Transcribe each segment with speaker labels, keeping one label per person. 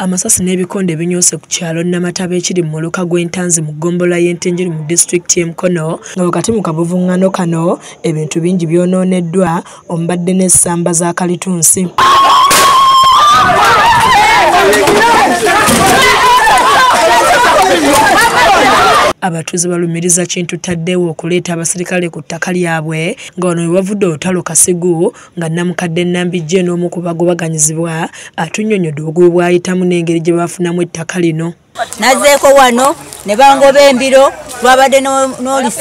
Speaker 1: Amasasi n'ebikonde binyoose ku kyalo Namataba ekiri mu muluka gw'entanzi mu ggombolola y'e Ntenjeru mu disitulikiti y'e Mukono nga wakati mu kavuvuŋŋano kano ebintu bingi byonooneddwa omubadde n'essamba za kalitunsi. abatuuze balumiriza kintu taddeewo okuleeta abaserikale ku ttaka lyabwe nga wano we wavudde olutalo kasigu nga namukadde Nambijje n'omu ku bagobaganyizibwa atunnyonnyodde obugubi bw'ayitamu n'engeri gye baafunamu ettaka lino. Nazeeko wano
Speaker 2: ne bangoba embiro twabadde n'oli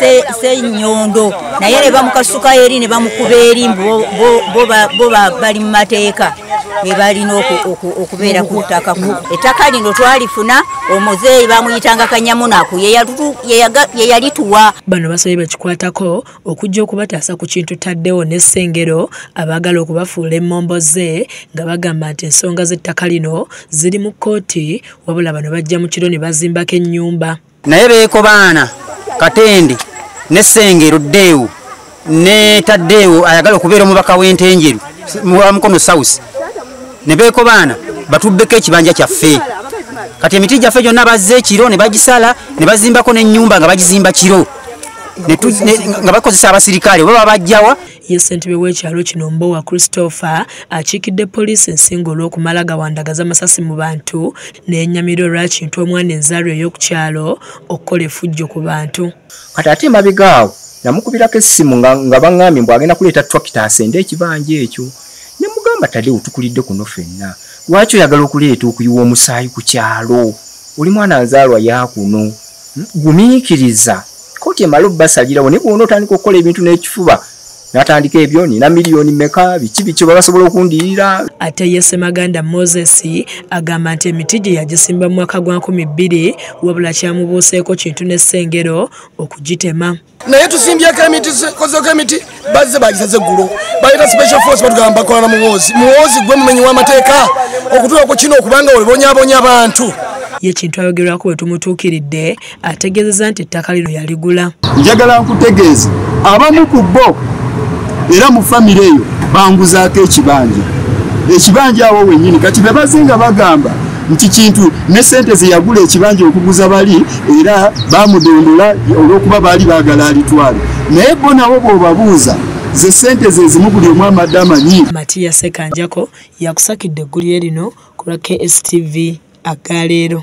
Speaker 2: senyondo naye ne bamukasuka eri ne bamukuba eri bo bali mu mateeka be balina okubeera ku ttaka ku ettaka lino twalifuna omuzeeyi bamuyitanga kanyamunaku ye yalituwa bano basabye
Speaker 1: bakikwatako okujja okubataasa ku kintu taddewo ne Ssengero abaagala okubafuula emmombo ze nga bagamba nti ensonga z'ettaka lino ziri mu kkooti wabula bano bajja mu kiro ne bazimbako ennyumba naye beekobaana
Speaker 3: katende ne Ssengero ddeewo ne taddeewo ayagala okubeera omubaka w'entenjeru wa mukono south ne beekobaana batuddeko ekibanja kyaffe kati emiti gyaffe gyonna bazze ekiro ne bagisala ne bazimbako n'ennyumba nga bagizimba kiro nga bakozesa abasirikale oba babajjawa ye ssentebe w'ekyalo
Speaker 1: kino mbowa christopher akiikidde poliisi ensinga olw'okumala gawandagaza amasasi mu bantu n'enyamira olwakintu omwana enzaalwa ey'oku kyalo okukola efujjo ku bantu kati ate emabega
Speaker 4: awo namukubirako essimu nga baŋŋambye mbw agenda kuleeta twakita asende ekibanja ekyo ne mugamba tadewo tukulidde kuno fenna lwaki oyagala okuleeta okuyiwa omusaayi ku kyalo oli mwana nzaalwa yakuno gumiikiriza kkooti emale obubasalirawo naye bwona otandika okukola ebintu n'ekifuba natandika ebyo nina miliyoni meka biki biki oba basobola okundiyira ate ye semaganda
Speaker 1: moses agamba nti emiti gye yagisimba mu mwaka gwa nkumi bbiri wabula kyamubuuseeko kintu n'essengero okugitema naye tusimbyeko
Speaker 5: emiti kozeko emiti bazze bagisaze eggulo baleta special force batugamba bakolana muwoozi muwoozi gwe mumenyi w'amateeka okutuula ku kino okubanga olibonyabonya abantu ye kintu
Speaker 1: ayogerwako bwe tumutuukiridde ategeezeza nti ettaka lino yaligula njagala nkutegeeza
Speaker 6: abamu ku bo era mu famire eyo banguzaako ekibanja ekibanja awo wenyini kati bebazinga bagamba nti kintu ne sente zeyagula ekibanja okuguza bali era bamudondola olwokuba baali bagala alitwale naye bo nabo bwobabuuza ze sente zezimu buli omu amadde amanyi matiya sekanjako
Speaker 1: yakusakidde eggulire lino ku lwa kstv agaleero